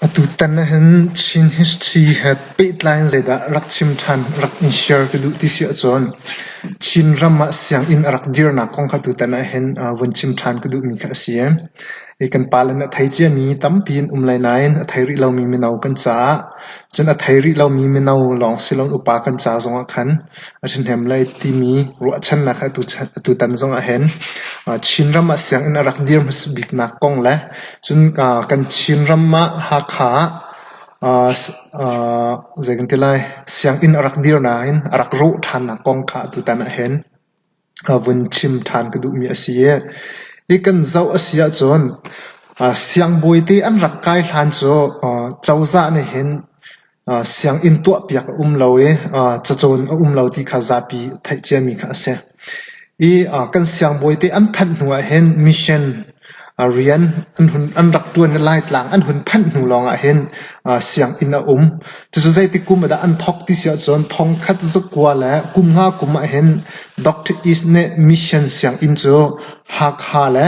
Atutan ahhin Chin history he pehtlai in zeidah rak chim ṭhan rak i share ka duh ti si ahcun Chinram ah sianginn a rak dirnak kong kha tutan ahhin vun chim ṭhan ka duhmi kha a si. Kan pale nih a thei ciami tampi an um lai nain a thei rih lomi mino kan caah cun a thei rih lomi mino lawng si loin upa kan ca zongah khan A ṭhahnem lai timi ruahchannak he atutan zong ahhin Chinram ah sianginn a rak dir hmasa biknak kong le cun kan Chinram ah Hakha ah zei kan ti lai sianginn a rak dir nain a rak ruh ṭhannak kong kha atutan ahhin vun chim ṭhan ka duhmi a si i hi kan zoh a si ahcun siangbawi te an rak kai hlan cu cozah nih hin sianginn tuahpiak a um lo i cacawn a um lo ti kha zapi theih ciami kha a si. Hi kan siangbawi te an phanh hnu ah hin mission A rian an rak ṭuan le Laitlang an hun phanh hnu lawngah hin sianginn a um. Cucu zeitik kum ahdah an thawk ti si ahcun thongkhat zakua le kum nga kum ahhin Doctor East nih Mission sianginn cu Hakha le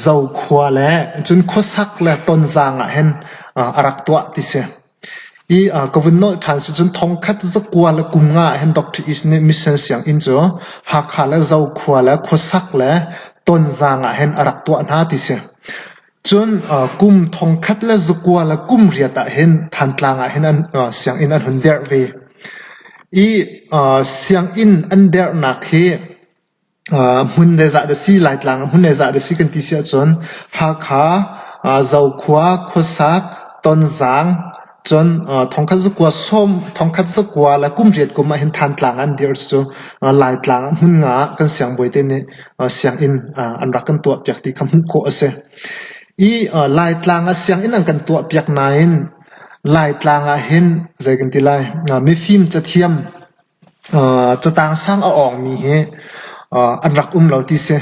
Zokhua le cun khuasak le Tonzang ahhin a rak tuah ti si. I aa ka vun nolh ṭhan sicun thongkhat zakua le kumnga ahhin Doctor East nih mission sianginn cu Hakha le Zokhua le khuasak le Tonzang ahhin a rak tuah hna ti si. Cun kum thongkhat le zakua le kum riat ahhin Thantlang ahhin an sianginn an hun derh ve. I sianginn an derhnak hi hmun le zah dah si, Laitlang ah hmun le zah dah si kan ti si ahcun Hakha, Zokhua, Khuasak, Tonzang, cun thongkhat zakua sawm, thongkhat zakua le kum riat kum ahhin Thantlang an dir cucu Laitlang ah hmun nga ah kan siangbawi te nih sianginn an rak kan tuahpiak ti kha hmuh khawh a si. I Laitlang ah sianginn an kan tuahpiak nain Laitlang ahhin zei kan ti lai, mifim cathiam Catang sang a awngmi hi an rak um lo ti si.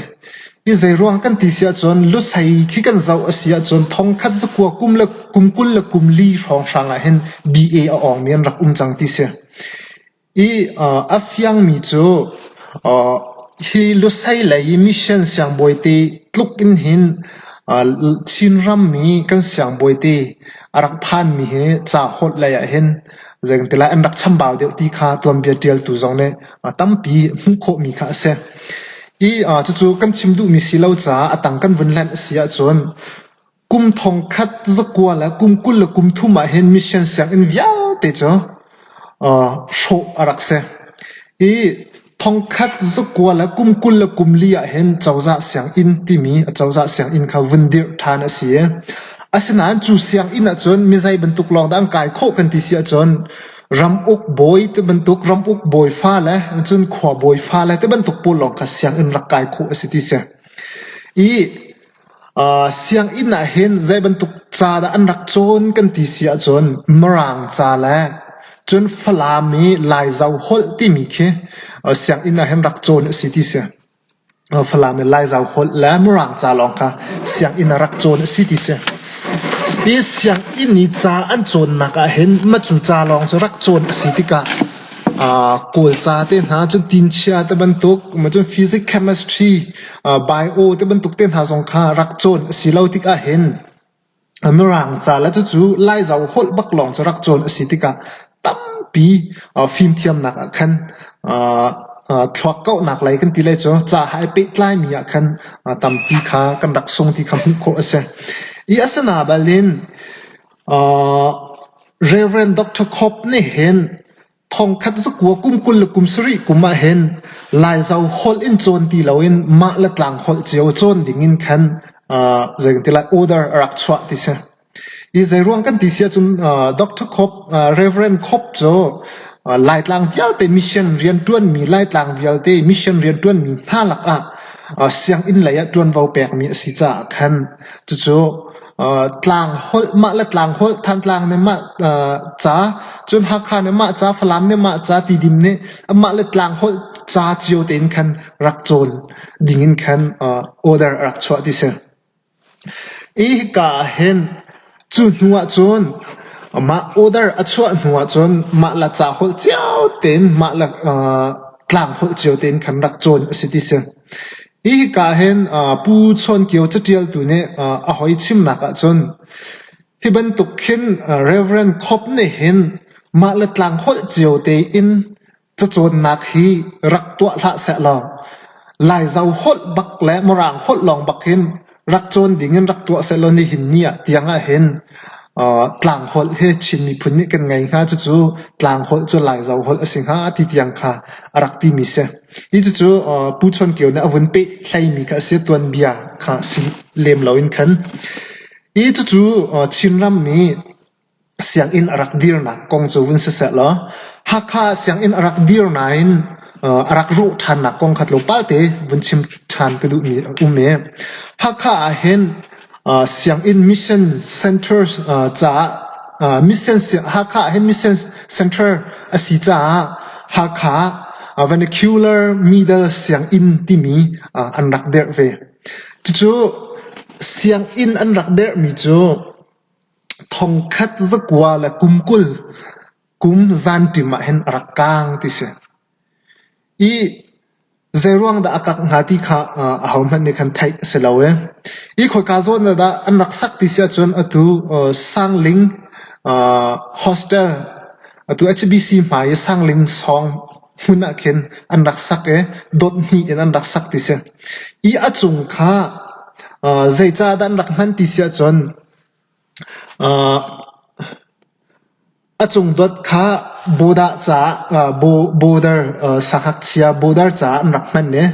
Hi zeiruang kan ti si ahcun lusei khi kan zoh a si ahcun thongkhat zakua kum le kum kul le kum li hrawnghrang ahhin DA a awngmi an rak um cang ti si. I a fiangmi cu hi lusei lei i mission siangbawi te tluk in hin Chinram mi kan siangbawi te a rak phanmi hi ca holh lei ahhin Zeicahtiah an rak chambau deuh ti kha tuanbia ṭialtu zong nih tampi hmuh khawhmi kha a si. I cucu kan chim duhmi si lo caah a tang kan vun hlenh a si ahcun kum thongkhat zakua le kum kul le kum thum ahhin mission sianginn vialte cu hrawh a rak si. I Thongkhat zukual a kum kul le kum li ahhin cozah sianginn timi a cozah sianginn kha vun dirh ṭhan a si i asinain cu sianginn ahcun mizei bantuk lawng dah an kai khawh kan ti si ahcun ramuk bawi te bantuk ramuk bawi fale cun khua bawi fale te bantuk pawl lawng kha sianginn rak kai khawh a si ti si. I Sianginn ah hin zeibantuk ca dah an rak cawn kan ti si ahcun Mirang ca le cun Falam i Laizo holh timi khi sianginn ah hin rak cawn a si ti si. Falam i Laizo holh le Mirang ca lawng kha sianginn ah rak cawn a si ti si. Hi sianginn i ca an cawnnak ah hin matu ca lawng cu rak cawn a si tikah Kawlca te hna cun tinchia te bantuk, cun physics, chemistry Bai u ti bantuk te hna zong kha rak cawn a si lo tikah hin Mirang ca le cucu Laizo holh bak lawng cu rak cawn a si tikah tampi fimthiamnak ah khan thluakkauhnak lei kan ti lai cu ca he ai pehtlaimi ah khan tampi kha kan rak sung ti kha hmuh khawh a si. I a si na bal in Reverend Dr. Cobb nih hin Thongkhat zakua kum kul le kum sarih kum ahhin Laizo holh in cawn ti loin mah le tlang holh cio cawn ding in khan uh, zeitin lai order a rak chuah ti si. I zeiruang kan ti si ahcun uh, Dr. Khop, uh, Reverend Khop cu uh, Laitlang vialte mission rian ṭuanmi Laitlang vialte mission rian ṭuanmi hna lakah uh, sianginn lei ah ṭuanvo pekmi a si caah khan cucu Tlang holh mah le tlang holh, Thantlang nih mah ca, cun Hakha nih mah ca, Falam nih mah ca, Tidim nih mah le tlang holh ca cio tein khan rak cawn ding in khan order a rak chuah ti si. Hi hika ah hin cu hnu ahcun mah order a chuah hnu ahcun mah le ca holh cio tein, mah le tlang holh cio tein khan rak cawn a si ti si. Hi hika hin Pu Chawn Kio catialtu nih a hoi chimnak ahcun hi bantuk khin Rev. Khop nih hin mah le tlang holh cio tein cacawnnak hi rak tuah hlah seh law Laizo holh bak le Mirang holh lawng bak hin rak cawn ding in rak tuah sehlaw nihin ni ah tiang ah hin tlangholh hi Chin miphun nih kan ngei hnga cucu tlangholh cu Laizo holh a si hnga ti tiang kha a rak ti mi si. Hi cucu Pu Chawn Kio nih a vun peh hlaimi kha a si tuanbia kha si lem lo in khan. Hi cucu Chinram mi Sianginn a rak dirnak kong cu vun si seh law Hakha sianginn a rak dir nain a rak ruh ṭhannak kong kha tlawmpalte vun chim ṭhan ka duhmi a um i Hakha ahhin sianginn mission center caah mission Hakha ahhin mission center a si caah Hakha vernacular middle sianginn timi an rak dirh ve. Cucu sianginn an rak dirhmi cu Thongkhat zakual a kum kul kum zanṭim ahhin a rak kaang ti si. I zeiruang dah a kak hnga ti kha ahohmanh nih khan theih a si lo i, i khoika zawn ah dah an rak sak ti si ahcun atu Sangling Hostel, atu HBC hmai i Sangling Sawng hmun ahkhin an rak sak i dot hnih in an rak sak ti si. I a cung kha zeicahdah an rak hman ti si ahcun A cungduat kha sangakchia boarder caah an rak hman i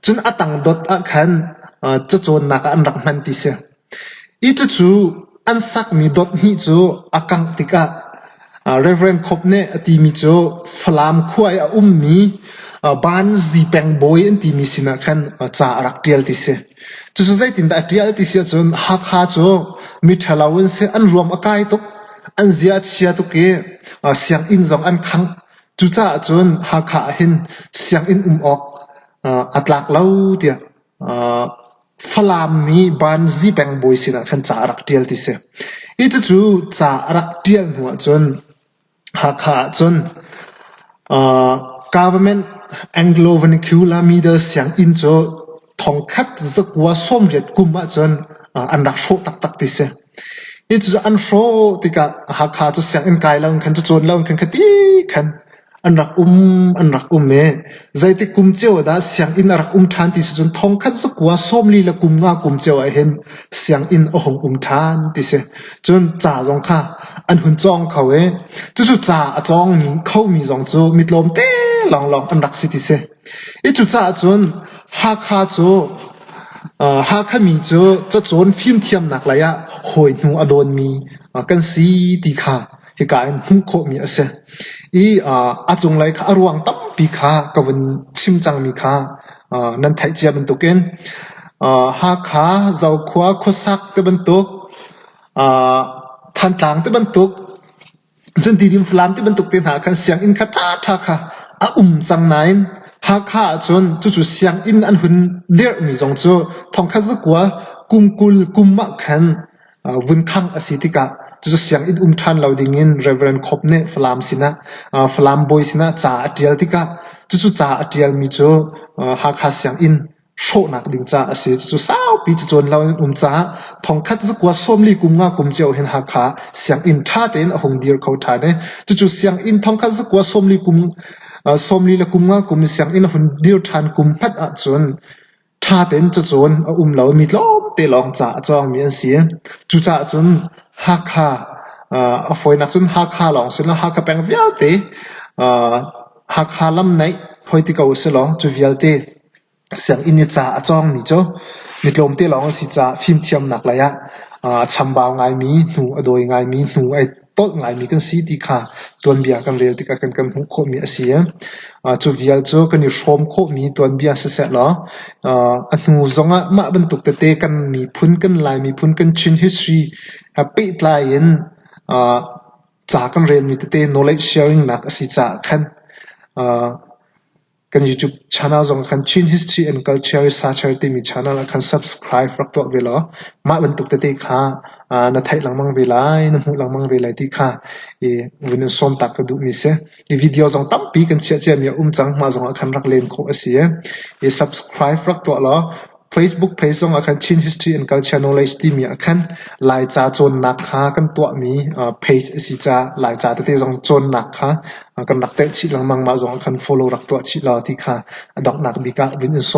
cun a tangdot ahkhan cacawnnak ah an rak hman ti si. Cucu an sakmi dot hnih cu a kangh tikah Rev. Khop nih a timi cu Falam khua i a ummi Banzi pengbawi an timi sinah khan ca a rak ṭial ti si. Cucu zeitindah a ṭial ti si ahcun Hakha cu miṭhalo an si, an ruam a kai tuk, an zia a chia tuk i sianginn zong an khangh. Cucaah cun Hakha ah hin sianginn um awk a tlak lo tiah Falam mi Banzi pengbawi sinah khan ca a rak ṭial ti si. I cucu ca a rak ṭial hnu ahcun Hakha ahcun government Anglo vernacular middle sianginn cu thongkhat zakua sawmriat kum ahcun an rak hrawh taktak ti si. I cucu an hrawh tikah Hakha cu sianginn kai lo in khan, cu cawn lo in khan khati khan an rak um an rak um i zeitik kum cio ah dah sianginn a rak um ṭhan ti si cun thongkhat zakua sawmli le kum nga kum cio ah hin sianginn a hung um ṭhan ti si. Cun ca zong kha an hun cawng kho i cucu ca a cawngmi khomi zong cu mitlawmte lawnglawng an rak si ti si. I cucaah cun Hakha cu uh, Hakha mi cu cacawn fimthiamnak lei ah hawi hnu a dawnmi uh, kan si ti kha hika in hmuh khawhmi a si. I a cunglei kha a ruang tampi kha ka vun chim cangmi kha nan theih cia bantukin Hakha, Zokhua, khuasak te bantuk, Thantlang te bantuk, cun Tidim Falam te bantuk te hna khan sianginn kha ṭhaṭha kha a um cang nain Hakha ahcun cucu sianginn an hun dirhmi zong cu thongkha zakua kungkul kum ah khan vun khangh a si tikah cucu sianginn um ṭhan lo dingin Rev. Khop nih Falam sinah Falam bawi sinah ca a ṭial tikah cucu ca a ṭialmi cu Hakha sianginn hrawhnak ding ca a si. Cucu saupi cu cawn lo in um caah thongkhat cu kua sawmli kum nga kum cio hin Hakha sianginn ṭha tein a hung dir kho ṭhan i cucu sianginn thongkhat cu kua sawmli kum sawmli le kum nga kum i sianginn a hun dir ṭhan kum hmat ahcun Ṭha tein cacun a um lomi tlawmte lawng ca a cawngmi an si. Cucaah cun Hakha a fawinak cun Hakha lawng si lo, Hakha peng vialte Hakha lam naih hoi ti ko usihlaw cu vialte sianginn i ca a cawngmi cu mi tlawmte lawng an si caah fimthiamnak lei ah a chambau ngaimi, hnu a dawi ngaimi, hnu a tolh ngaimi kan si ti kha tuanbia kan rel tikah kan kan hmuh khawhmi a si. Cu vial cu kan i hrawm khawhmi tuanbia siseh law a hnu zongah mah bantuk tete kan miphun, kan Lai miphun, kan Chin history he pehtlai in ca kan relmi tete knowledge sharing nak a si caah khan Kan YouTube channel zong ah khan Chin History and Culture Research timi channel ah khan subscribe rak tuah ve law mah bantuk tete kha aa na theih lengmang ve lai, na hmuh lengmang ve lai ti kha i vun in sawm taak ka duhmi si. I video zong tampi kan chiah ciami a um cang. Mah zong ah khan rak len khawh a si i, i subscribe rak tuah law Facebook page zong ah khan Chin History and Culture Knowledge timi ah khan Laica cawnnak kha kan tuahmi page a si caah Laica tete zong cawnnak kha kan rak telh chih lengmang. Mah zong ah khan follow rak tuah chih law ti kha a donghnak bik ah vun in sawm